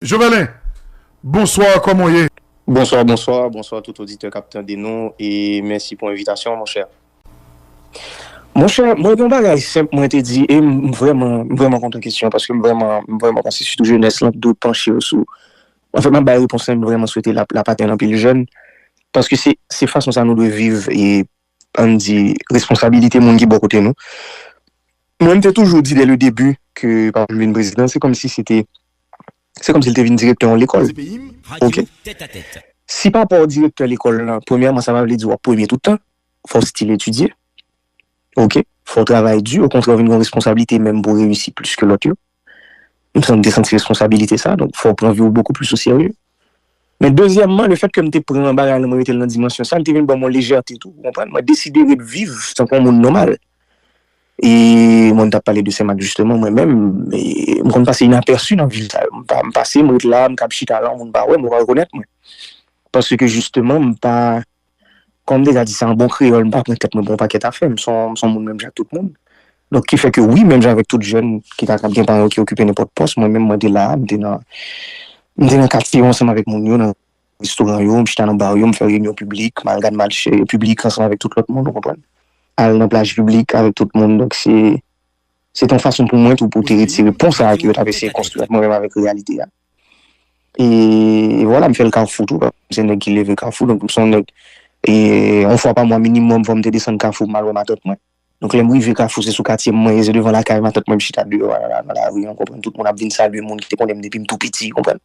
Jovelin, bonsoir kòman w ye? Bonsoir bonsoir bonsoir tout oditè kap tande nou e mèsi pou envitasyon an monchè Monchè mwen gen yon bagay senp mwen te di e m vrèman m vrèman kontan kesyon paske m vrèman m vrèman panse sitou jenès lan t dwe panche yo sou anfen map bay repons lan e m vrèman swete lap lap atenn anpil jèn paske se se fason sa nou dwe viv e ann di, responsabilite moun ki bò kote nou. Mwen m te toujou di dè le debi ke papa m vin prezidan, se kòmsi se te, se kòmsi l te vin direktè yon lekòl. Ok. Si papa w direktè lekòl lan, premyèman sa pa vle di w ap premye tout tan, fò w stil etidye. Ok. Fò w travay di, okontrè w vin gen yon responsabilite menm pou w reyisi plis ke lòt yo. M santi, m te santi responsabilite sa, donk fò w pran vi w bokou plis o serye. Men dezyèmman, le fèt ke m te pran bagay lan mwen mete l nan dimansyon sa, li te vin ban m yon lejète tou, ou konprann, mwen deside ret viv tankou yon moun nòmal. E mwen ta pale de Senmak jisteman, mwen menm, m konn pase inapèsi nan vil sa yo. M pa, m pase, m ret la, m kab chita la, moun pa wè m, yo pa rekonèt mwen. Paske jisteman m pa. Kòm m deja di sa an bon kreyòl m pa pran tèt mwen pou yon pakèt afè, m son moun menm jan ak tout moun. Donk ki fè ke wi menm jan avèk tout jèn ki ta kab gen paran yo ki okipe nenpòt pòs mwen menm mwen te la a, m te nan m te nan katye yo ansanm avèk moun yo, nan restoran yo, m chita nan bar yo, m fè reyinyon piblik, m al gad match piblik ansanm avèk tout lòt moun ou konprann. Al nan plaj piblik avèk tout moun donk se se te yon fason pou mwen tou pou te retire pon sa a ke yo t ap eseye konstwi ant mwen menm avèk reyalite a. E vwala m fè l kafou tou, m se nèg ki leve kafou, donk m se yon nèg, e yon fwa pa mwa minimòm fò m te desann kafou pou m al wè matant mwen. Donk lè m rive kafou se sou katye m mwen ye, se devan lakay matant mwen m chita deyò a nan lari an, ou konprann, tout moun ap vin salye moun ki te konnen m depi m tou piti, ou konprann.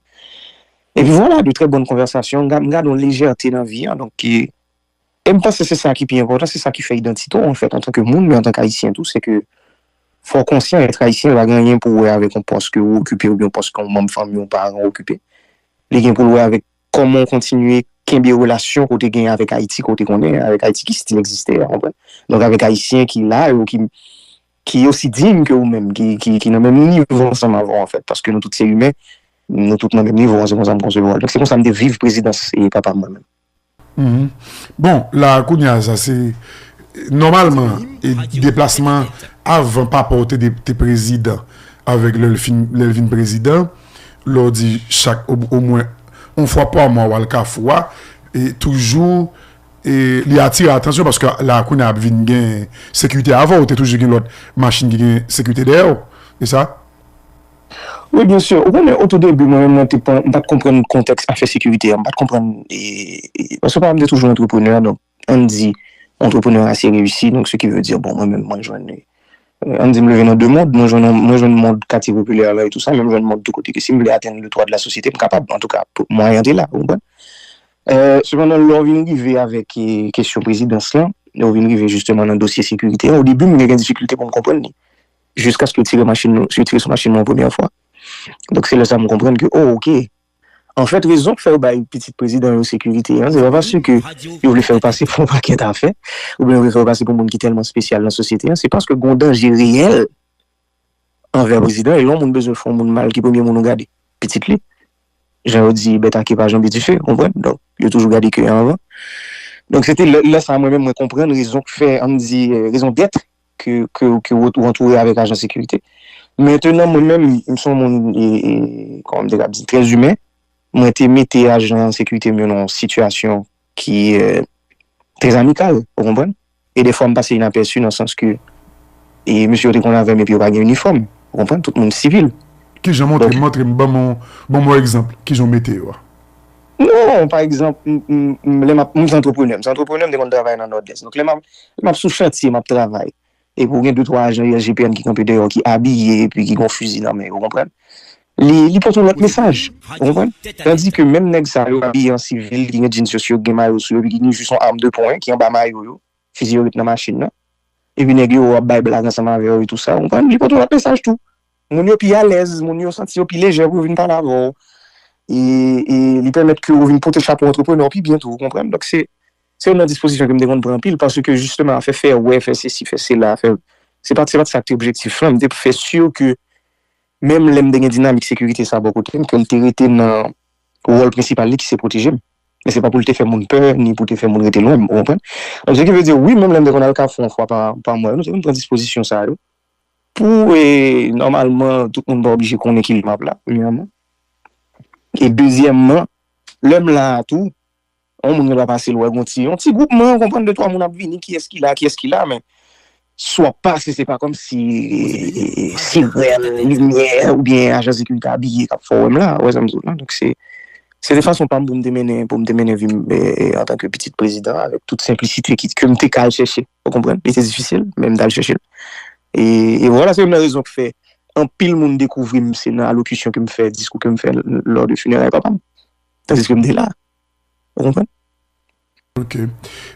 Epi vwala, de trè bòn konvèsasyon, m gade yon lejète nan vi an, donk ki. E m panse se sa ki pi enpòtan, se sa ki fè idantite w anfèt antanke moun men antanke ayisyen tou, se ke fò w konsyan èt ayisyen pa gen anyen pou wè avèk yon pòs ke ou okipe oubyen yon pòs ke yon manm fanmi yon paran okipe. Li gen pou l wè avèk kòman w kontinye kenbe relasyon ke w te genyen avèk Ayiti ke w te konnen an, avèk Ayiti ki stil egziste an, konprann? Donk avèk ayisyen ki la yo, ki ki osi digne ke ou menm, ki ki ki nan menm nivo ansanm avè w anfèt, paske nou tout se imen, nou tout nan menm nivo an, se konsa m konsevwa l. Donk se konsa m te viv prezidans papa m mwen menm. Bon la kounya sa se nòmalman e deplasman avan papa w te prezidan avèk lè l vin prezidan lè w di chak omwen yon fwa pa mwa w al kafou a e toujou e li atire atansyon paske la kounya ap vin gen sekirite avan w te toujou gen lòt machin ki gen sekirite dèyè w e sa. Wi byen sur, ou konnen o tou debi mwen menm mwen te pran, m pat konprann kontèks afè sekirite a, m pat konprann paske papan m te toujou antreprenè donk ann di antreprenè ase reyisi donk se ki ve di bon mwen menm mwen jwenn ann di m leve nan 2 mond mwen jwenn mwen jwenn mond katye popilè la etou sa men m jwenn mond tou kote ke si m vle atenn le twa de la sosyete m kapab antouka mwayen an te la ou konprann sepandan lè w vin rive avèk kesyon prezidans lan lè w vin rive jisteman nan dosye sekirite an o debi m te gen difikilte pou m konprann li. jiskaske yo tire machin nou, si yo tire sou machin nou yon premyè fwa. Donk se lè sa m konprann ke o ok. Anfèt rezon k fè yo bay pitit prezidan yo sekirite an, se pa paske yo vle fè yo pase pou yon pakèt afè, oubyen yo vle fè yo pase pou moun ki tèlman spesyal nan sosyete an, se paske gon danje reyèl anvè prezidan e lè yon moun bezwen fè yon moun mal ki premye moun ou gade? Pitit li. Jan yo di bèt a ke pa janbe dife, ou konprann? Donk yo toujou gade ke an anvan. Donk se te lè sa mwen menm mwen konprann rezon k fè, an n di rezon dèt ke ou antoure avèk ajan sekirite. Mentenan mwen menm, m son moun, kòman m te kab di, trè zimen, mwen te mete ajan sekirite m yo nan yon sitiyasyon ki trè amikal, ou konprann? E defwa m pase inapèsi nan sans ke mesye yo te konn avè m epi yo pa gen inifòm, ou konprann? Tout moun sivil. Kijan? Montre m, montre m, ban m yon egzanp, kijan ou mete yo a? Non, pa egzanp, m, lè m ap, mwen se antreprenè, m se antreprenè, m te konn travay nan Nòdès. Donk lè m ap, lè m ap sou chantye, m ap travay, epi ou gen de twa ajan USGPN ki kanpe deyò, ki abiye, epi ki gen yon fizi nan men yo, ou konprann, li, li pote yon lòt mesaj, ou konprann. Tandike menm nèg sa yo abiye an sivil, ki gen djin sou yo, ki gen mayo sou yo, epi ki gen jis yon arm de poing ki anba mayo yo, fizi yo ret nan machin nan, epi nèg yo ap bay blag ansanm avè yo e tou sa, ou konprann, li pote yon lòt mesaj tou. Moun yo pi alèz, moun yo santi yo pi lejè pou yo vin pale avè w. E li pèmèt ke ou vin pote chapo antreprenè w pi byen tou, ou konprann? Donk se youn nan dispozisyon ke m te konn pran anpil paske jisteman afè fè wè, fè sesi, fè sela, fè. Se pa t sa ki te objektif lan. M te fè si ke menm lè m te gen dinamik sekirite sa a bò kote m, ke l te rete nan wòl prensipal li ki se pwoteje m. Men se pa pou l te fè moun pè ni pou te fè moun rete lwen m, ou konprann? Donk se ki vle di, wi menm lè m te konn al kafou yon fwa pa mwa, m te konn pran dispozisyon sa yo Pou e nòmalman tout moun pa oblije konnen ki map la premyèman e dezyèmman lèm la a tou yon moun gen dwa pase l wè gon ti yon ti gwoupman ou konprann de twa moun ap vini kiyès ki la kiyès ki la men si wap pase se pa kòmsi sirèn limyè oubyen ajan sekirite abiye kap fè w wèm la ou wè sa m di w la donk se Se te fason pa m pou m te mennen, pou m te mennen vi m antanke pitit prezidan an avèk tout senplisite ki, ke m te ka al chèche, ou konprann? Li te difisil, men m t al chèche l. E, e vwala, se youn nan rezon ki fè anpil moun dekouvri m se nan alokisyon ke m fè, diskou ke m fè lò de fineray papa m. Tandiske m te la. Ou konprann? Ok.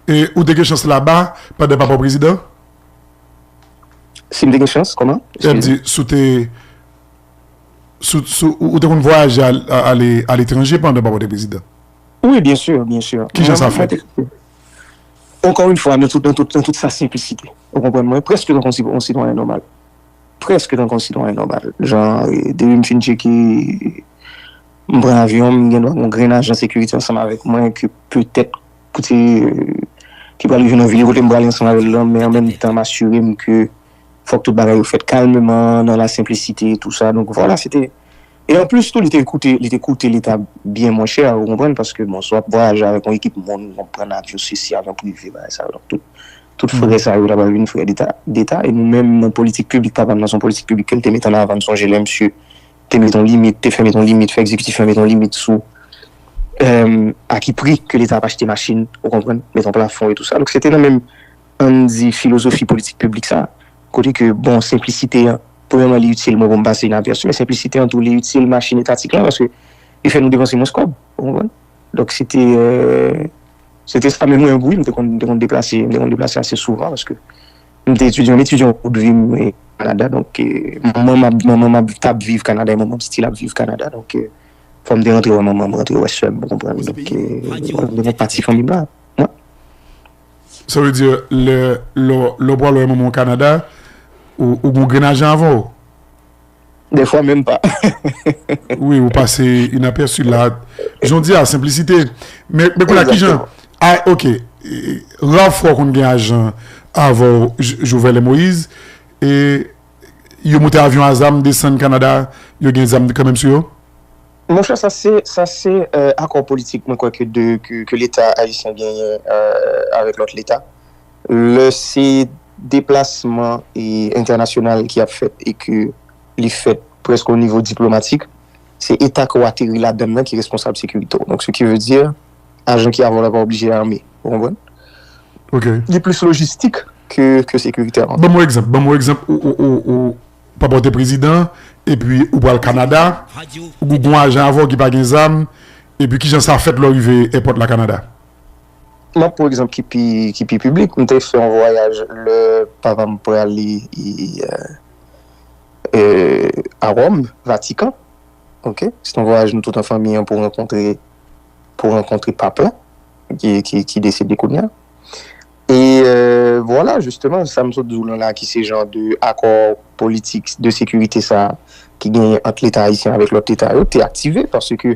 E ou te gen chans laba pandan papa w prezidan? Si m te gen chans, kòman? Eskize. M di, si w te, si w, ou te konn vwayaje ale aletranje pandan papa w te prezidan? Wi, byen sur, byen sur. Ki jan sa fèt? Ankò yn fwa, nan tout sa senplisite. Ou konprann mwen? Prèske tankou yon sitwayen nòmal. Prèske tankou yon sitwayen nòmal. Jan, depi m fin tcheke M pran avyon, m gen dwa gon grenn ajan sekirite ansanm avèk mwen ke petèt kote ki pral rive nan vil yo kote m prale ansanm avè l lan men an menm tan m asire m ke fòk tout bagay yo fèt kalmeman nan la senplisite tou sa donk vwala se te e anplis tou li te koute li te koute leta byen mwen chè ou konprann paske bon si w ap vwayaje avèk yon ekip moun ou pran avyon sesi avyon prive bagay sa yo donk tout tout frè sa yo ta pral vin frè deta deta e nou menm nan politik piblik papa m nan se yon politik piblik ke l te mete an avan m sonje lè msye te met yon limit, te fè met yon limit, fè egzekitif la met yon limit sou a ki pri ke leta ap achte machin, ou konprann, met yon plafon e tou sa. Donk se te nan menm, an n di, filozofi politik piblik sa a, kote ke, bon, senplisite an, premyèman li itil mwen pou m pase yon apèsi, men senplisite an tou li itil machin etatik lan, paske li fè nou depanse mwens kòb, ou konprann. Donk se te, se te sa, men mwen menm pou wi m te konn, m te konn deplase, m te konn deplase ase souvan, paske. M te etidyan, m etidyan tout vi m mwen Kanada donk manman m ap t ap viv Kanada e manman m still ap viv Kanada donk fò m te rantre wè manman m rantre wè sè m ou konprann donk m te fon pati fanmi m la mwen. Sa vle di lè w pral wè manman w Kanada ou gen grenn ajan avan w? Des fois même pas. Oui ou pase inaperçu la jan w di a senplisite men kounya a kijan ok rare fwa w konn gen ajan avè w Jouvèl e Moïse e yo moute avyon a zam desann Canada yo gen zam kanmenm sou yo? Monchè sa se sa se akò politik mwen kwè ke de ke leta ayisyen genyen avèk lòt leta Lè se deplasman entènasyonal ki ap fèt e ke li fèt prèske o nivo diplomatik, se eta ke w ateri ladann nan ki responsab sekirite w. Donk se ki ve di, ajan ki a vòlò pa oblije ame. Ou konprann? Li plis lojistik ke sekirite. Ban m yon egzanp. Ban m yon egzanp. Ou pa pote prezidan e pi ou pral Kanada. Ou gen yon ajan avè w ki pa gen zam. E pi ki jan sa fèt lè w rive èpòt la Kanada? M ap pran yon egzanp ki pi piblik. M te fè yon vwayaj lè papa m prale a Wòm, Vatikan. Ok, se te yon vwayaj nou tout an fanmi an pou rankontre, pou rankontre Pap la ki desede kounye a. E vwala, jisteman, sa m sot di w lan la ki se jan de akò politik de sekirite sa a ki genyen ant Leta ayisyen avèk lòt Leta yo te aktive paske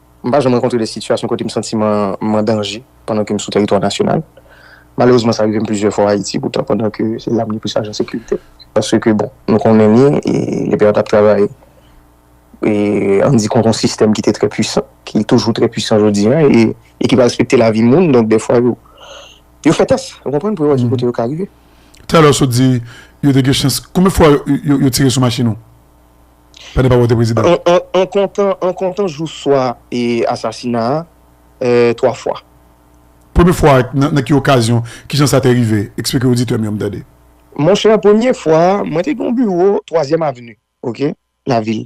M pa janm rankontre de sitiyasyon kote m santi m an danje pandan ke m sou teritwa nasyonal. Malerezman sa rive m plizyè fwa Ayiti poutan pandan ke se la m gen plis ajan sekirite. Paske bon, nou konnen ni LPR t ap travay an di kont yon sistèm ki te trè pwisan, ki toujou trè pwisan jodi a e ki pa respekte lavi moun. Donk dèfwa yo yo fè tès, ou konprann, pou yo wè ki kote yo ka rive. Talè w sot di yo te gen chans. Konbyen fwa yo tire sou machin ou? An kontan jou swa asasina a, 3 fwa. Premye fwa a, nan ki okazyon, ki jan sa te rive? Eksplike oditè m yo m tande. Monchè, premye fwa a, mwen te gen yon biwo twazyèm aveni, ok, lavil.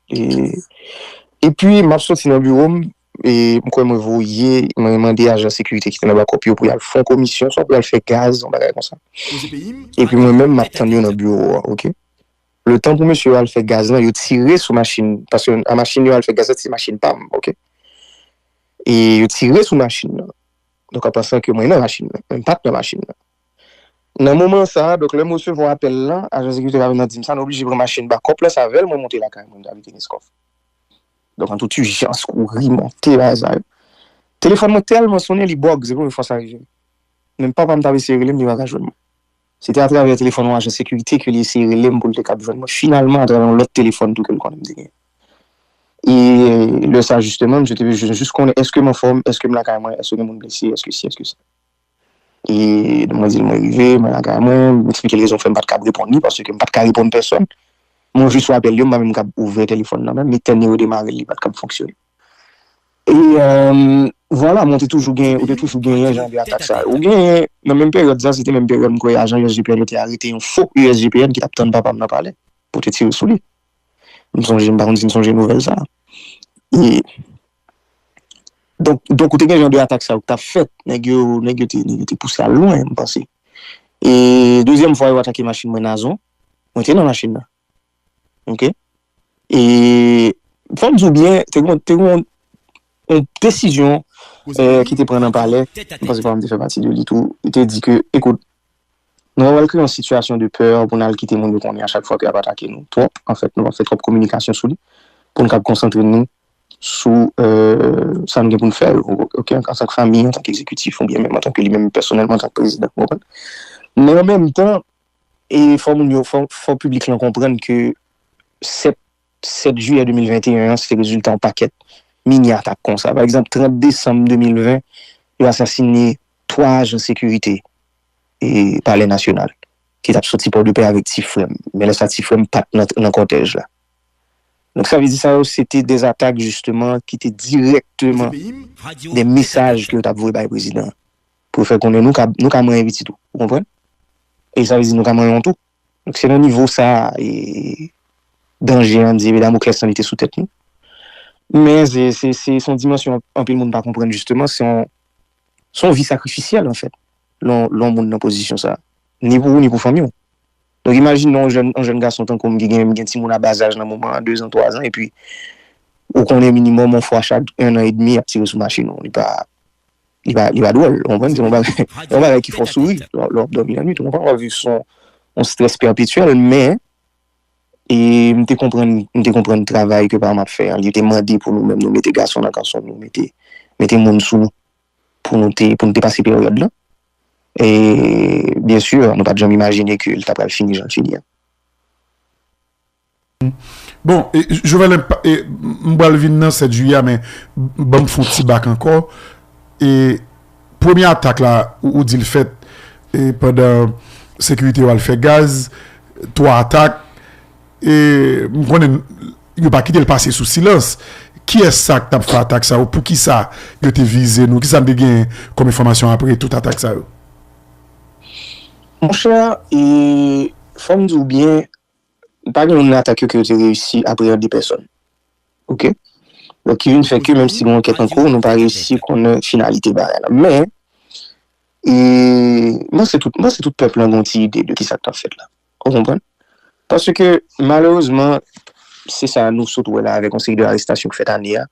E pi, m ap soti nan biwo m, m kwè mwen voye, mwen mande ajan sekirite ki te nan bakòp yo pou y al fè yon komisyon, swa pou y al fè gaz, yon bagay konsa. E pi mwen menm, m ap tann yo nan biwo a, ok. Le tan pou mesye yo al fè gaz lan yo tire sou machin paske a machin yo al fè gaz la se machin pam ok e yo tire sou machin nan donk an pansan ke mwen nan machin nan men m pat nan machin nan nan moman sa a donk lè m resevwa apèl la ajan sekirite la vin nan di m sa nou oblije pran machin bakòp la se avèl mwen monte lakay mwen avè Kenskòf donk an tout ijans kouri monte bagay sa yo telefòn mwen tèlman sonnen li bòg se premye fwa sa rive m menm papa m t ap eseye rele m li pa ka jwenn mwen. Se te atravè telefòn yon ajan sekirite ke li eseye rele m pou l te kab jwenn mwen. Finalman, atravè yon lòt telefòn tou ke l konnen m te genyen. E lè sa jisteman, misye te bezwen jis konnen èske m anfòm, èske m lakay mwen, èske gen moun blese, èske si, èske sa. E mwen di l mwen rive, mwen lakay mwen, m eksplike l rezon fè m pa t kab reponn li, paske m pa t ka reponn pèsòn. Mwen jwe sou apèl yo, m pa menm kab ouvè telefòn nan menm, e tè nimewo demare l, li pa t kab fonksyone. E vwala mwen te toujou genyen, ou te toujou genyen jan de atak sa yo. Ou genyen, nan menm peryòd sa, se te menm peryòd m kwè ajan USGPN yo te arete yon fo USGPN ki t ap tann papa m nan palè pou te tire sou li. M sonje, m pa konn si n sonje nouvèl sa. E donk, donk ou te gen jan de atak sa yo ki t ap fèt. Nèg yo, nèg yo te, nèg yo te pouse al lwen, m panse. E dezyèm fwa yo atake machin mwen Nazon, mwen te nan machin nan. Ok. E fòm di w byen, te gen yon desizyon ki te pran nan palè, mwen panse pa m te fè pati de li tou, yo te di ke, ekout, nou pa pral kreye yon sitiyasyon de pè pou n al kite moun yo konnen a chak fwa ke y ap atake nou twòp, anfèt nou ap fè twòp kominikasyon sou li pou n kab konsantre nou sou sa nou gen pou n fè yo, ok, antanke fanmi, antanke egzekitif oubyen menm antanke li menm pèsonèlman antanke prezidan, ou konprann? Men an menm tan, E fò moun yo, fò piblik lan konprann ke 7 jiyè 2021 an, se te rezilta yon pakèt mini atak konsa. Pa egzanp, 30 desanm 2020, yo asasine 3 ajan sekirite Palè Nasyonal ki t ap soti Pòdepè avèk ti frè m. Men lè sa ti frè m pa t nan kòtèj la. Donk sa vle di sa yo se te de atak jisteman ki te dirèkteman de mesaj ke yo t ap voye bay prezidan an. Pou l fè konnen nou ka nou ka manyen pitit ou. Ou konprann? E sa vle di nou ka manyen w tou. Donk se nan nivo sa a e danje an, di'e damoklès lan li te sou tèt nou. Men se se se se yon dimansyon anpil moun pa konprann jisteman, se yon se yon vi sakrifisyèl anfèt lè w lè w moun nan pozisyon sa a. Ni pou ou ni pou fanmi w. Donk imajine yon jèn yon jèn gason tankou m ki gen gen timoun a bazaj nan moman an, dezan, twazan epi ou konnen minimòm yon fwa chak ennan edmi y ap tire sou machin ou. Li pa. Li pa dwòl, ou konprann? Se yon bagay ki fè w souri lè w ap dòmi lannwit, ou konprann? W ap viv sou yon strès pèpetyèl. Men, m te konprann, m te konprann travay ke papa m ap fè an. Li te mande pou nou menm nou mete gason nan kanson nou, mete, mete moun sou nou pou nou te, pou nou te pase peryòd lan. E, byensi, nou pa t janm imajine ke li ta pral fini jan l fini an. Bon, Jovenel m pral vin nan 7 jiyè men ban m fon ti bak ankò e premye atak la ou di l fèt e pandan sekirite yo al fè gaz 3 atak e m konnen yo pa kite l pase sou silans kiyès sa k t ap fè atak sa yo poukisa yo te vize nou kisa n te genyen kòm enfòmasyon apre tout atak sa yo? Monchè e fò m di w byen Pa gen youn nan atak yo ke yo te reyisi apreyande pèsonn. Ok. Donk ki vin fè ke menm si gen ankèt an kou, nou pa reyisi konnen finalite bagay la. Men, e, m panse tout, m panse tout pèp lan gen yon ti ide de ki sa k t ap fèt la. Ou konprann? Paske, malerezman, se sa nou sot wè la avèk yon seri de arestasyon k fèt ane a,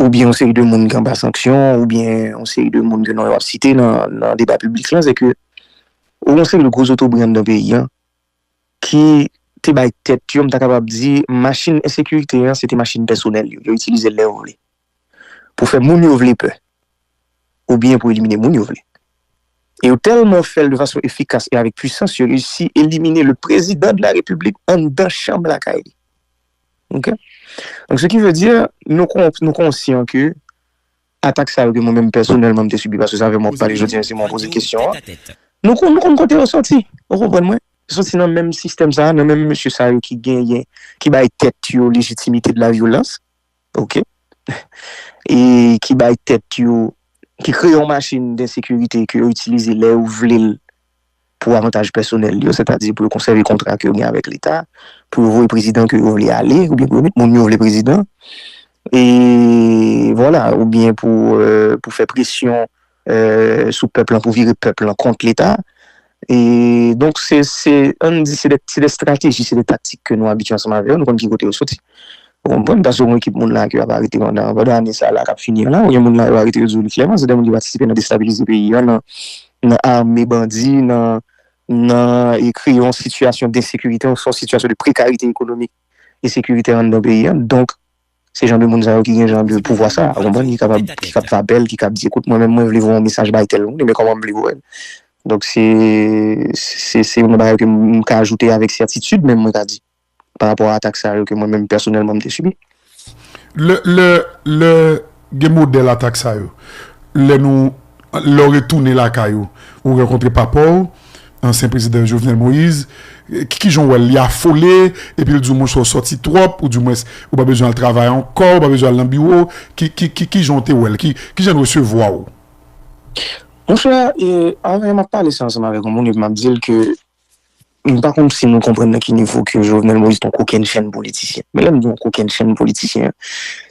oubyen yon seri de moun ki anba sanksyon, oubyen yon seri de moun ke non yo ap site nan, nan deba piblik lan, se ke, ou gen yon seri de gwo zotobre anndan peyi an, ki te bay tèt yo, m ta kapab di, machin ensekirite an, se te machin pèsonèl yo. Yo itilize l lè yo vle. Pou fè moun yo vle pè. Oubyen pou elimine moun yo vle. E yo tèlman fè l de fason efikas e avèk pwisans, yo reyisi elimine le prezidan de la repiblik anndan chanm lakay li. Ok? Donk, se ki ve di, nou konsyan ke. Atak sa yo ke mwen menm pèsonèlman m te sibi, paske se avè mwen w ap pale jodi an, se mwen w poze kesyon an, nou konn, nou konn kote yo soti, ou konprann mwen? Yo soti nan menm sistèm sa a, nan menm mesye sa yo ki genyen, ki bay tèt yo lejitimite de la vyolans, ok, e ki bay tèt yo, ki kreye yon machin densekirite ke yo itilize lè yo vle l pou avantaj pèsonèl li yo, sètadi pou yo konsève kontra ke yo gen avèk leta, pou yo voye prezidan ke yo vle ale, oubyen pou yo met moun yo vle prezidan, e vwala, oubyen pou fè presyon sou pèp lan, pou vire pèp lan kont leta. E donk se, an n di se de strateji, se de taktik ke nou abitye ansanm avè yo, nou konn ki kote yo soti. Ou konprann? Paske gen ekip moun la ke yo ap arete pandan ane sa la kap fini an la, gen moun la yo arete yo di w li klèman se de moun ki patisipe nan destabilize peyi an, nan nan ame bandi, nan nan e kreye yon sitiyasyon densekirite, yon sitiyasyon de prekarite ekonomik e sekiritè anndan peyi a. Donk, se jan de moun sa yo ki gen jan de pouvwa sa a, ou konprann, ki kapab, ki kab fè apèl, ki kab di, ekout, mwen menm mwen vle voye yon mesaj bay tèl moun, men kòman m vle voye l? Donk se, se, se yon nan bagay ke m ka ajoute avèk sètitid menm, mwen ta di. pa rapò a atak sa yo ke mwen menm pèsonèlman m te sibi. Lè gen modèl atak sa yo, lè nou, lè w retounen lakay ou, ou rankontre papa w, ansyen prezidan Jovenel Moïse, ki jan w wè l? Li afole epi l di w monchè w sòti twòp, oudiwens ou pa bezwen al travay ankò, ou pa bezwen al nan biwo, ki jan w te wè l? Ki jan l resevwa w? Monchè, anvan m ap pale sa ansanm avèk yon moun epi m ap di l ke M pa konn si nou konprann nan ki nivo ke Jovenel Moïse t on kokenn chen politisyen. Men lè m di on kokenn chen politisyen,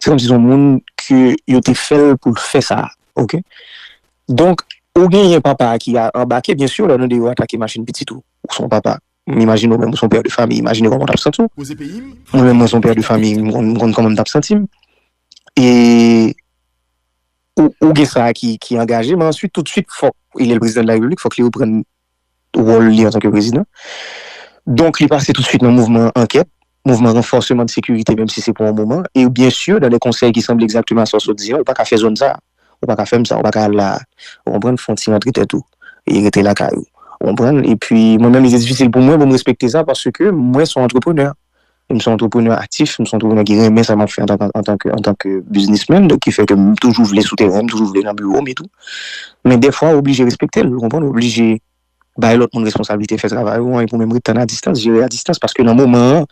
se kòmsi se on moun ke yo te fè l pou l fè sa. Ok. Donk, ou genyen papa a ki a anbake, byen sûr, lè w tande yo atake machin pitit ou. Ou se on papa. M imajine ou menm ou se on père de famille. Imajine kòman w t ap santi w. Mwen menm mwen se on père de famille, m konn kòman m t ap santi m. E ou gen sa a ki angaje, men answit toutsuit fòk, e li l prezidan de la repiblik, fòk li reprann wòl li antanke prezidan. Donk li pase tout swit nan mouvman ankèt, mouvman ranfòseman de sekirite menm si se pou yon moman, e byen sur dan de konsèy ki sanble egzakteman a sa w sot di an, ou pa ka fè zòn sa a, ou pa ka fè m sa, ou pa ka al la a, ou konprann, fon ti rantre tèt ou e rete lakay ou, ou konprann, epi mwen menm li te difisil pou mwen pou m respekte sa paske mwen son antreprenè, M se yon antreprenè aktif, m se yon antreprenè ki renmen sa m ap fè antanke biznismen, donk ki fè ke m toujou vle sou tèren, m toujou vle nan biwo m etou. Men dèfwa ou oblije respekte l, ou konprann, ou oblije bay lòt moun responsablite fè travay ou an epi ou menm ret tann adistans, jere adistans paske nan moman an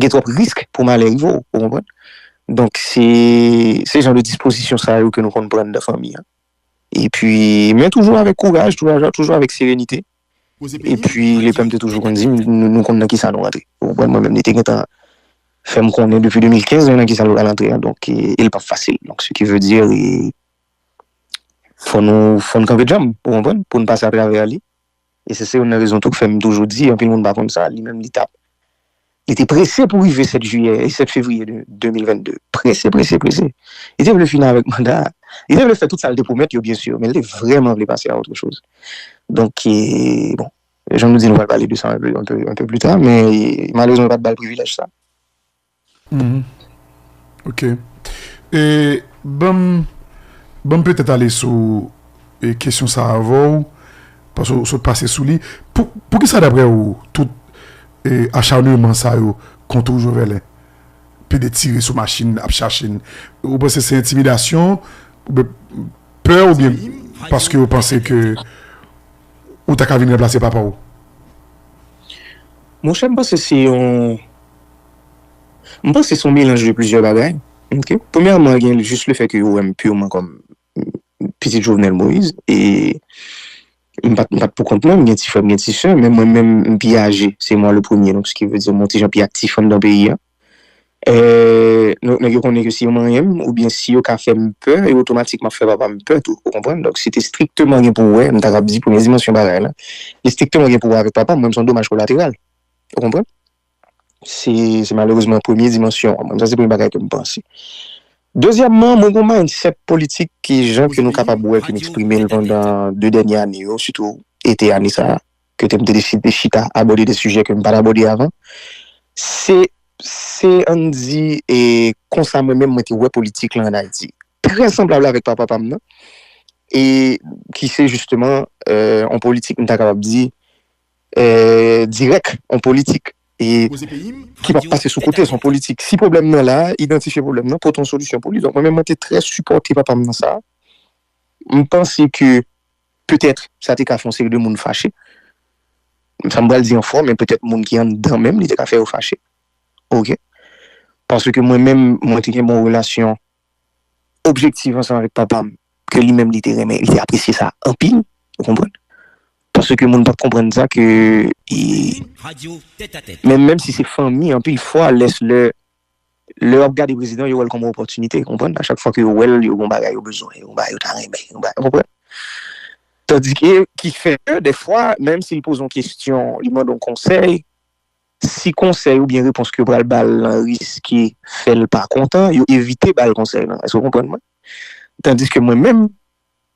gen twòp risk pou malè rive w, ou konprann. Donk se se jan de dispozisyon sa yo ke nou konn pran nan fanmi an. Epi men toujou avèk kouraj, toujou avèk serenite. Epi lepè m te toujou konn di m nou konn nan kisa nou rantre. Ou konprann? Mwen menm li te gentan fè m konnen depi 2015 nou nan kisa nou pral antre an donk e l pap fasil. Donk se ki ve di e fò nou fò n kanpe djanm ou konprann pou n pase atravè li e se se youn nan rezon tou k fè m toujou di anpil moun pa konn sa li menm li tap Li te prese pou rive 7 jiyè, 7 fevriye 2022. Prese, prese, prese. Li te vle fini avèk manda a. Li te vle fè tout sa li te pwomèt yo byen sur, men li te vrèman vle pase a otre choz. Donk, bon, jan nou di, nou pral pale de sa anpe, anpe, anpe pli ta, men malerezman yo pa t ba l privilèj sa. Ok e banm banm petèt ale sou e kesyon sa avè w paske w sot pase sou li pou poukisa daprè w tout e acharnement sa yo kont ou Joverlin pede tire sou machin ap chache n ou panse se entimidasyon oubyen pè oubyen paske yo panse ke ou ta ka vin ranplase papa w? Monchè m panse se yon. M panse son melanj de plizyè bagay ok premyèman gen jis le fè ke yo wèm pirman kòm pitit Jovenel Moïse e m pat m pat pou kont mwen m gen ti frè m gen ti sè men mwen menm m pi aje se mwa le premye donk ski vle di m yon ti jan pi aktif anndan peyi a donk nèg yo konnen ke si yo manyen m oubyen si yo ka fè m pè yo otomatikman ap fè papa m pè tou ou konprann donk se te strikteman gen pou wè m ta kab di premye dimansyon bagay la li strikteman gen pou wè avèk papa m mwen m son domaj kolateral ou konprann. Se se malerezman premye dimansyon an. Mwen menm sa se premye bagay ke m panse. Dezyèmman, mwen gen yon mindset politik ke jan ke nou kapab wè ke m eksprime l pandan 2 dènye ane yo, sitou ete ane sa a, kote m te deside chita abòde de sijè ke m pa t abòde avan, se se an n di e konsa mwen menm mwen te wè politik lan an Ayiti. Trè sanblab avèk papa pa m nan e ki se jisteman yon politik m ta kapab di. dirèk on politik ki pa pase sou kote, son politik. Si pwoblèm nan la, idantifye pwoblèm nan, pote yon solisyon pou li. Donk mwen menm mwen te trè sipòte papa m nan sa. M panse ke petèt sa te ka fè yon seri de moun fache. Sa m pral di an fò men petèt moun ki anndan menm li te ka fè yo fache. Ok. Paske mwen menm mwen te gen bon relasyon. objektif ansanm avèk papa m ke li menm li te renmen, li te apresye sa anpil ou konprann paske moun pa konprann sa ke menm menm si se fanmi anpil fwa lès lè lè yo ap gade prezidan yo wè l kòm yon opòtinite ou konprann a chak fwa ke yo wè l yo gen yon bagay yo bezwen yon bagay yo ta renmen yon bagay ou konprann tandike ki fè ke dèfwa menm si l poze yon kesyon li mande yon konsèy Si konsèy oubyen repons ke yo pral ba l lan riske fè l pa kontan, yo evite ba l konsèy lan. Èske w konprann mwen? Tandiske mwen menm,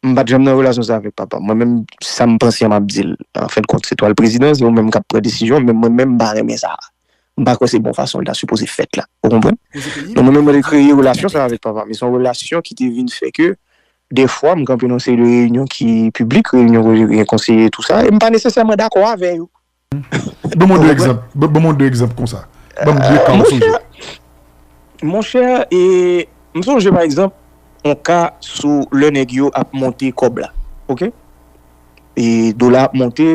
m pa t janm nan relasyon sa avèk papa m. Mwen menm, sa m panse an m ap di l. Anfendkont, se twal prezidan, se ou menm k ap pran desizyon, men mwen menm m pa renmen sa a. M pa kwè se bon fason l ta sipoze fèt la. Ou konprann? Donk mwen menm mwen te kreye relasyon sa a avèk papa m. E se yon relasyon ki te vin fè ke dèfwa m kanpe nan yon seri de reyinyon ki piblik, reyinyon kote gen konseye e tou sa, e m pa nesesèman dakò avè yo. Ban mwen 2 egzanp, ban mwen 2 egzanp konsa. Ban m 2 ka ou sonje. Monchè, e m sonje pa egzanp yon ka sou lè nèg yo ap monte kòb la, ok. E dola ap monte,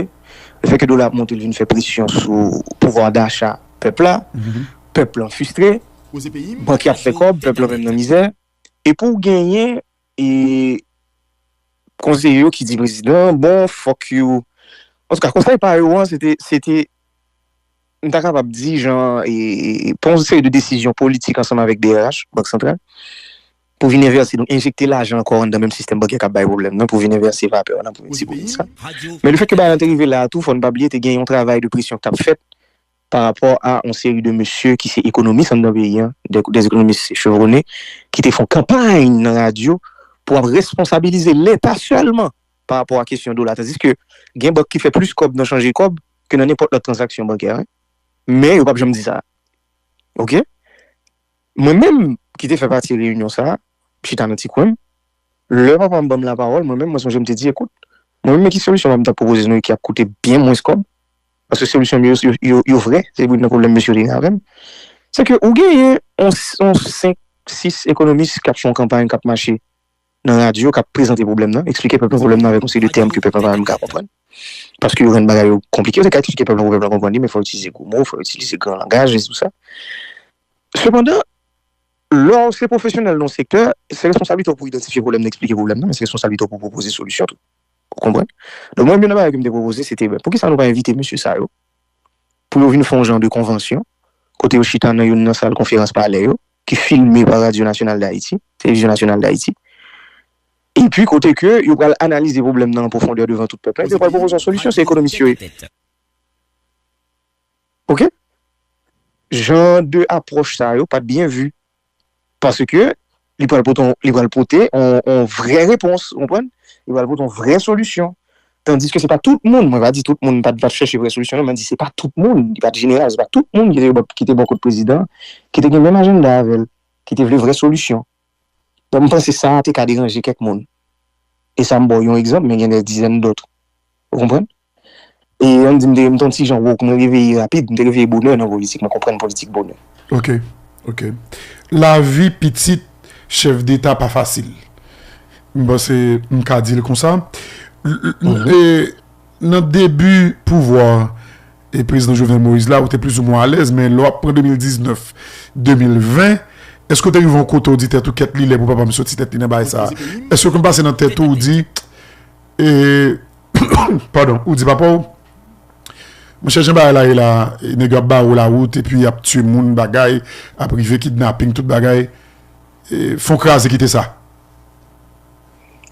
le fè ke dola ap monte li vin fè presyon sou pouvwa dacha pèp la, pèp lan fistre, bank yo ap fè kòb, pèp lan menm nan mizè. Epi ou genyen. E konseye yo ki di prezidan an bon fòk yo antouka konsèy pa yo an se te m ta kapab di jan pran yon seri de desizyon politik ansanm avèk brh, Bank Santral, pou vin envèse donk enjekte lajan ankò anndan menm sistèm bankè k ap bay pwoblèm nan pou vin envèse vapè nan pwodui sa. Men lefètke bagay lan te rive la a tou fò n pa bliye te gen yon travay de presyon k t ap fèt. pa rapò a yon seri de mesye ki se ekonomis anndan peyi an, des économistes chevronnés, ki te fè yon kanpay nan radyo pou ap responsabilize Leta sèlman pa rapò a kesyon dola. Tandiske gen bank ki fè plis kòb nan chanje kòb ke nan nenpòt lòt tranzaksyon bankè, men yo pap janm di sa. Ok. Mwen menm ki te fè pati reyinyon sa a, m chita nan ti kwen m, lè papa m ban m lapawòl, mwen menm mwen sonje m te di, ekout, mwen menm men ki solisyon papa m t ap pwopoze nou e ki ap koute byen mwens kòb, Paske solisyon yo yo vrè, se youn nan pwoblèm mesye yo te gen avè m. Se ke ou genyen yon yon senk, sis ekonomis k ap fè yon kanpay, k ap mache nan radyo, k ap prezante pwoblèm nan, eksplike pèp lan pwoblèm nan avèk yon seri de tèm ke pèp lan pa menm ka konprann. Paske yo jwenn bagay yo konplike. Yo te ka eksplike pèp lan pou pèp lan konprann li, men fò yo itilize gwo mo, fò yo itilize gran langaj e tousa. Sepandan, lè w se pwofesyonèl nan yon sektè, se responsablite w pou idantifye pwoblèm nan, eksplike pwoblèm nan, men se responsablite w pou pwopoze solisyon tou. Ou konprann? Donk mwen menm youn nan bagay ke m te pwopoze se te ben poukisa nou pa envite mesye sa yo pou yo vin fè yon jan de konvansyon kote yo chita nan youn nan sal konferans palè yo ki filme pa Radyo Nasyonal Dayiti, Televizyon Nasyonal Dayiti epi kote ke yo pral analize pwoblèm nan an pwofondè devan tout pèp la epi yo pral pwopoze yon solisyon, se ekonomis yo ye. Ok? Jan de apwòch sa yo pa t byen vi Paske li pral pote yon, li pral pote yon, yon vrè repons, ou konprann? Li pral pote yon vrè solisyon. Tandiske se pa tout moun, mwen pa di tout moun pa t, pa t chèche vrè solisyon non, men m di se pa tout moun, li pa t jeneral, se pa tout moun ki te bò, ki te bò kot prezidan an, ki te gen menm ajannda avè l, ki te vle vrè solisyon. Donk m panse sa a te ka deranje kèk moun. E sa m ba w yon egzanp, men gen dè dizèn dòt. Ou konprann? E an n di m te m t on ti jan woke, mwen reveye rapid, m te reveye bonè nan politik, mwen konprann politik bonè. Ok. Ok. Lavi pitit chèf deta pa fasil. M panse m ka di l konsa. E nan debi pouvwa prezidan Jovenel Moïse la ou te plizoumwen alèz men lè w ap pran 2019, 2020, èske w te rive yon kote ou di tèt ou kèt li lè pou papa m soti tèt li nan bagay sa a? Èske w konn pase nan tèt ou ou di e. Pardon, ou di papa w, monchè jan bagay la ye la, nèg yo ap bare w lawout epi y ap tiye moun bagay ap rive kidnaping tout bagay, fon kraze kite sa.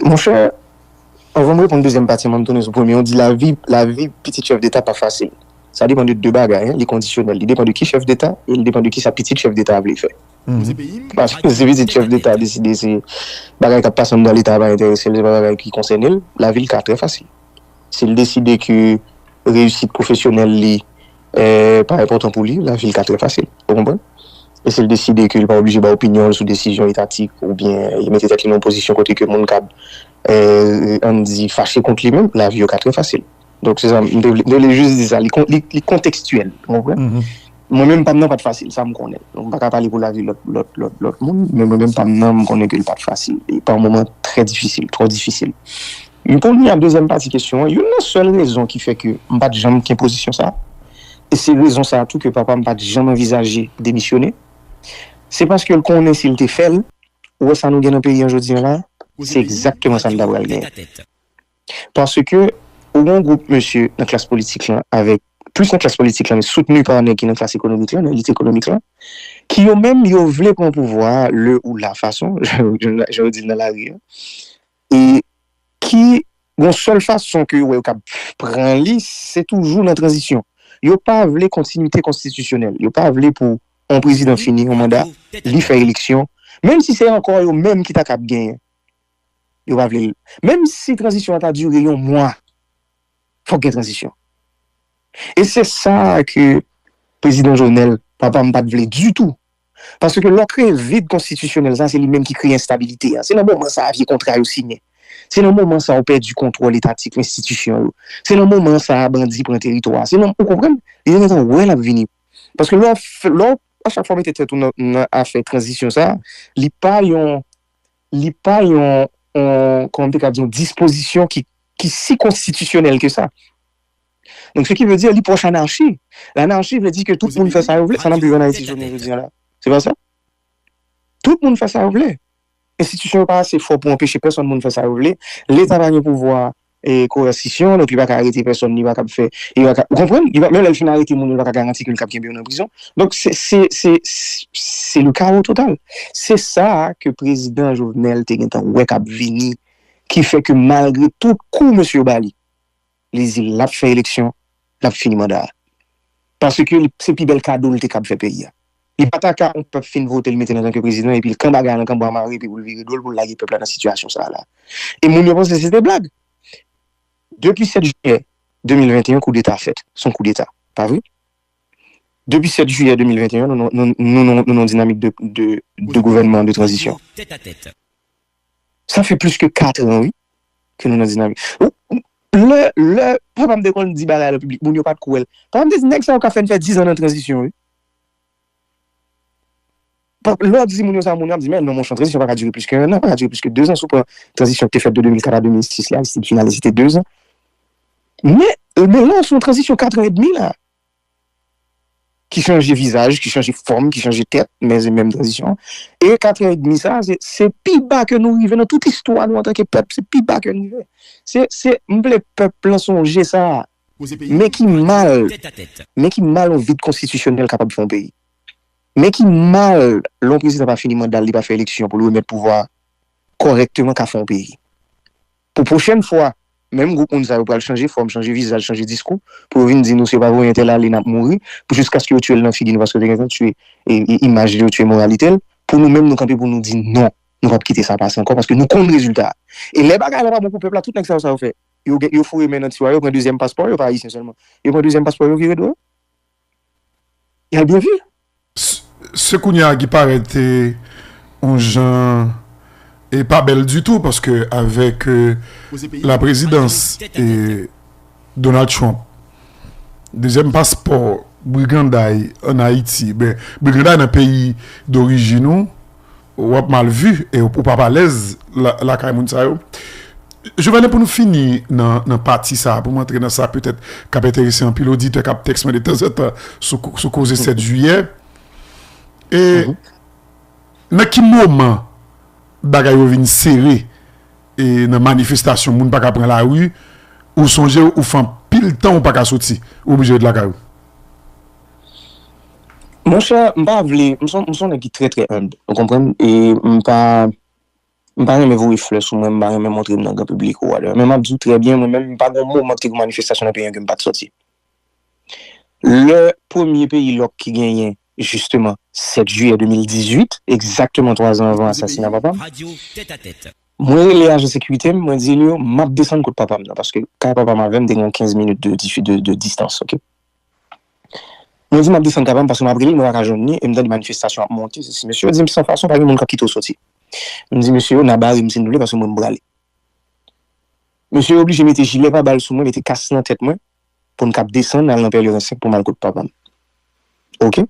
Monchè, anvan m reponn dezyèm pati an, an m tounen sou premye an, ou di lavi, lavi pitit chèf deta pa fasil. Sa depan de 2 bagay, li kondisyonèl, li depan de ki chèf deta e li depan de kisa pitit chèf deta a vle fè. Paske se pitit chèf deta a deside se bagay kap pase anndan leta a pa enterese l se pa bagay ki konsène l la vi l ka trè fasil si l deside ke reyisit pwofesyonèl li pa enpòtan pou li la vi l ka trè fasil ou konprann e si l deside ke li pa oblije bay opinyon l sou desizyon etatik ou byen li mete tèt li nan yon pozisyon kote ke moun kab ann di fache kont li menm la vi yo ka trè fasil. Donk se sa m te vle, m te vle jis di sa, li kon, li kontekstyèl, ou konprann? Mwen menm pa m nan pa t fasil, sa m konnen. Donk m pa ka pale pou lavi lòt, lòt, lòt, lòt moun, men mwen menm pa m nan m konnen ke li pa t fasil. E pa moman trè difisil, twò difisil. Men pou vini a dezyèm pati kesyon an, youn nan sèl rezon ki fè ke m pa t janm ken pozisyon sa, e se rezon sa tou ke papa m pa t janm anvizaje demisyone, se paske l konnen si l te fè l, ou wè sa nou gen nan peyi an jodi an la, se egzakteman sa n ta pral genyen. Paske ou gen yon gwoup mesye nan klas politik lan avèk, plis nan klas politik lan men soutni pa nèg ki nan klas ekonomik lan, nan elit ekonomik lan, ki yo menm yo vle pran pouvwa a lè ou la fason, jan yo di l nan lari a, e ki gon sèl fason ke yo wè yo kab pran li, se toujou nan tranzisyon. Yo pa vle kontinite konstitisyonèl. Yo pa vle pou yon prezidan fini yon manda, li fè eleksyon, menm si se ankò yo menm ki ta kab genyen. Yo pa vle l. Menm si tranzisyon an ta dire yon mwa, fòk gen tranzisyon. E se sa ke Prezidan Jovenel, papa m, pa t vle ditou. Paske lè w kreye vid konstitisyonèl sa, se li menm ki kreye enstabilite a. Se nan moman sa a vye kontra yo siyen. Se nan moman sa a ou pèdi kontwòl etatik enstitisyon yo. Se nan moman sa a bandi pran teritwa a. Se nan, ou konprann? Li te gentan wè l ap vini. Paske lè w, lè w a chak fwa mete tèt ou nan afè tranzisyon sa a, li pa yon li pa yon, kòman m te ka di, yon dispozisyon ki si konstitisyonèl ke sa. Donk, se ki vle di, li pwòch anarchi. Lanarchi vle di ke tout moun fè sa yo vle. Sa n ap viv an Ayiti jounen jodi an la. Se pa sa? Tout moun fè sa yo vle. Enstitisyon yo pa ase fò pou anpeche pèsonn moun fè sa yo vle. Leta pa gen pouvwa Koerasisyon, donk li pa ka arete pèsòn, li pa kab fè, li pa ka, ou konprann? Li pa, menm lè li fin arete moun yo, li pa ka garanti ke li kab kenbe yo nan prizon. Donk se, se, se, se le kawo total. Se sa a ke Prezidan Jovenel te gentan wè kab vini, ki fè ke malgre tout kou mesye yo ba li, li di l ap fè eleksyon, lap fini manda a. Paske se pi bèl kado li te kab fè peyi a. Li pa ta ka yon pèp fin vote l mete l antanke prezidan epi l kan bagay lan kanba mare epi pou l vire do l pou l lage pèp la nan sitiyasyon sa a la. E moun yo panse se te blag. Depi 7 jiyè 2021 koudeta fèt. Se yon koudeta. Pa vre? Depi 7 jiyè 2021 nou nan yon dinamik de gouvènman de tranzisyon. Sa fè plis ke 4 an wi ke nou nan dinamik. Lè, lè papa m te konn di bagay lan piblik, moun yo pa t kwè l. Papa m te di nèg sa yo ka fè n fè 10 an nan tranzisyon wi. Lè w ap di moun yo sa, moun yo ap di men non monchè, tranzisyon pa ka dire plis ke 1 an, pa ka dire plis ke 2 an. Si w pran tranzisyon ki te fèt de 2004 a 2006 la, Aristide finalize se 2 an. Men, men la se yon tranzisyon 4 an edmi la. ki chanje vizaj, ki chanje fòm, ki chanje tèt, men se menm tranzisyon an. E katrè edmi sa a, se pi ba ke nou rive nan tout istwa nou antanke pèp, se pi ba ke nou rive. Se, se, m vle pèp lan sonje sa a. Men ki mal, men ki mal yon vid konstitisyonèl kapab fè yon peyi. Men ki mal lè yon prezidan pa fini manda l, li pa fè eleksyon pou l remèt pouvwa a kòrèkteman ka fè yon peyi. Pou pwochèn fwa, menm gwoup moun sa yo pral chanje fòm, chanje vizaj, chanje diskou pou yo vin di nou se yo pa voye entèl ale n ap mouri pou jiskaske yo tye l nan figi nou paske yo te gentan tye imaj li, yo tye moralite l. Pou nou menm nou kanpe pou nou di non, nou pa p kite sa pase ankò paske nou konn rezilta a. E lè bagay la pa bon pou pèp la tout nèg sa yo sa yo fè? Yo foure men nan tiwa yo pran dezyèm paspò yo, pa ayisyen sèlman, yo pran dezyèm paspò yo vire do yo. Yal byen vye. Se kounye a ki parèt on jan e pa bèl ditou paske avèk la prezidans Donald Trump dezyèm paspò briganday an Ayiti, briganday nan peyi dorijin ou Wap mal vu e ou pap alez lakay moun sa yo. Jovenel pou nou fini nan pati sa pou m antre nan sa petèt kap enterese anpil oditè kap tèks mwen de tanzantan sou koze 7 jiyè e nan ki moman bagay yo vin sere e nan manifestasyon moun pa ka pran la ri ou sonje ou fan pil tan ou pa ka soti ou oblije ret lakay ou. Monchè, m pa vle, m son, m son nèg ki trè trè humble, ou konprann, e m pa, m pa renmen voye flè sou mwen, m pa renmen montre m nan gran piblik ou whatever, men m ap di w trè byen, mwen menm, pa gen yon moman ki te gen manifestasyon nan peyi an ke m pa t sòti. Lè premye peyi lòk ki genyen, jisteman, 7 jiyè 2018, egzakteman 3 zan anvan asasina papa m, mwen rele ajan sekirite m, mwen di l yo, m ap desann kot papa m nan, paske kay papa m avè m te gen yon 15 minit de distans, ok. Mwen di map desann kay pam paske map relel mwen paka jwenn li em tande manifestasyon ap monte sesi mesye yo dim san fason pa gen moun kap kite w soti mdi mesye yo na barem si nou vle paske mwen mprale mesye yo oblije mete jilè pa bal sou mwen mete kas nan tèt mwen poun kap desann al nan pèlerin 5 poum al kot papam ok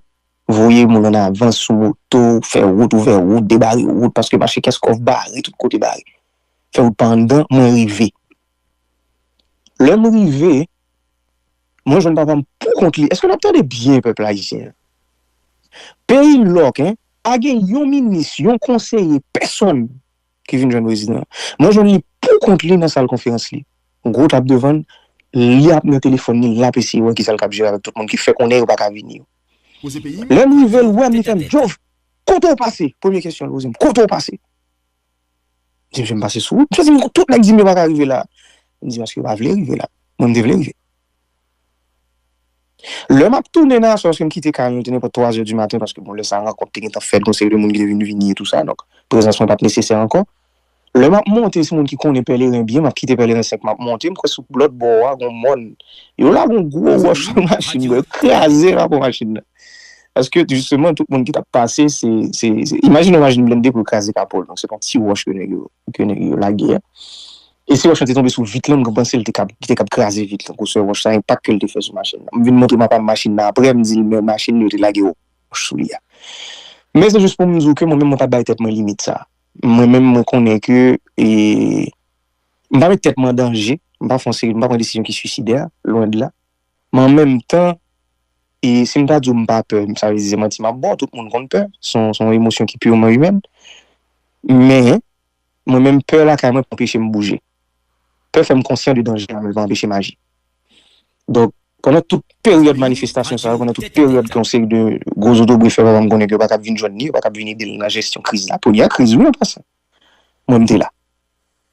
voye moun an avans sou moto fè wout ouvè wout debare wout paske mache kèskòf bare tout kote bare fè wout pa anndan mwen rive lèm rive. Mwen jwenn papa m pou kont li. Eske nap tande byen pèp ayisyen an? Peyi lòk hein, pa gen yon minis, yon konseye, pèsòn ki vin jwenn prezidan an. Mwen jwenn li pou kont li nan sal konferans li. Gwo tab devan l, li ap nan telefòn li, lap eseye wè kisa l kab jere avèk tout moun ki fè konnen yo pa ka vini yo. Lè m rive l wè m li fè m, Jovv, kote w pase? Premye kesyon l poze m, kote w pase? Di m fè m pase sou wout. Yo di m tout nèg di m yo pa ka rive la. M di paske yo pa vle rive la. Mwen m te vle rive. Lè m ap tounen nan aswè paske m kite kay mwen te nenpòt twazè di maten paske bon lè sa rankont te gentan fèt gon seri de moun ki te vin vini e tou sa donk prezans mwen pa t nesesè ankò. Lè m ap monte se moun ki konnen Pèleren byen m ap kite Pèleren 5 m ap monte m kwè sou lòt bò a gon mòn yo lage yon gwo wòch sou machin mwen yo kraze rapò machin nan. Paske jisteman tout moun ki tap pase se, se, se, imajine yon machin blende pou kraze kapo l, donk se pa yon ti wòch ke nèg yo, ke nèg yo lage a. E si wòch lan te tonbe sou vit lan, m panse l te kab, li te kab kraze vit lan, gwosè wòch la, enpak ke l te fè sou machin nan. M vin montre papa m machin nan aprè, m di l men machin li yo te lage wòch sou li a. Men se jis pou m di w ke mwen menm mwen pa bay tèt mwen limit sa a. Mwen menm mwen konnen ke, e, m pa met tèt mwen an danje, m pa fon seri, m pa pran desizyon ki swisidè, lwen de la. Men an menm tan, e si m ta di w m pa pè, sa vle di se manti m ap ba w, tout moun konn pè, se yon emosyon ki purement humaine. Men, mwen menm pè lakay mwen pa anpeche m bouje. Pè fè m konsyan de danje a men l pa anpeche m aji. Donk, pandan tout peryòd manifestasyon sa yo, pandan tout peryòd ke yon seri de gwo zotobre fè papa m konnen ke yo pa t ap vin jwenn li, yo pa t ap vin ede l nan jesyon kriz la, premyè kriz wi an pasan, mwen m te la.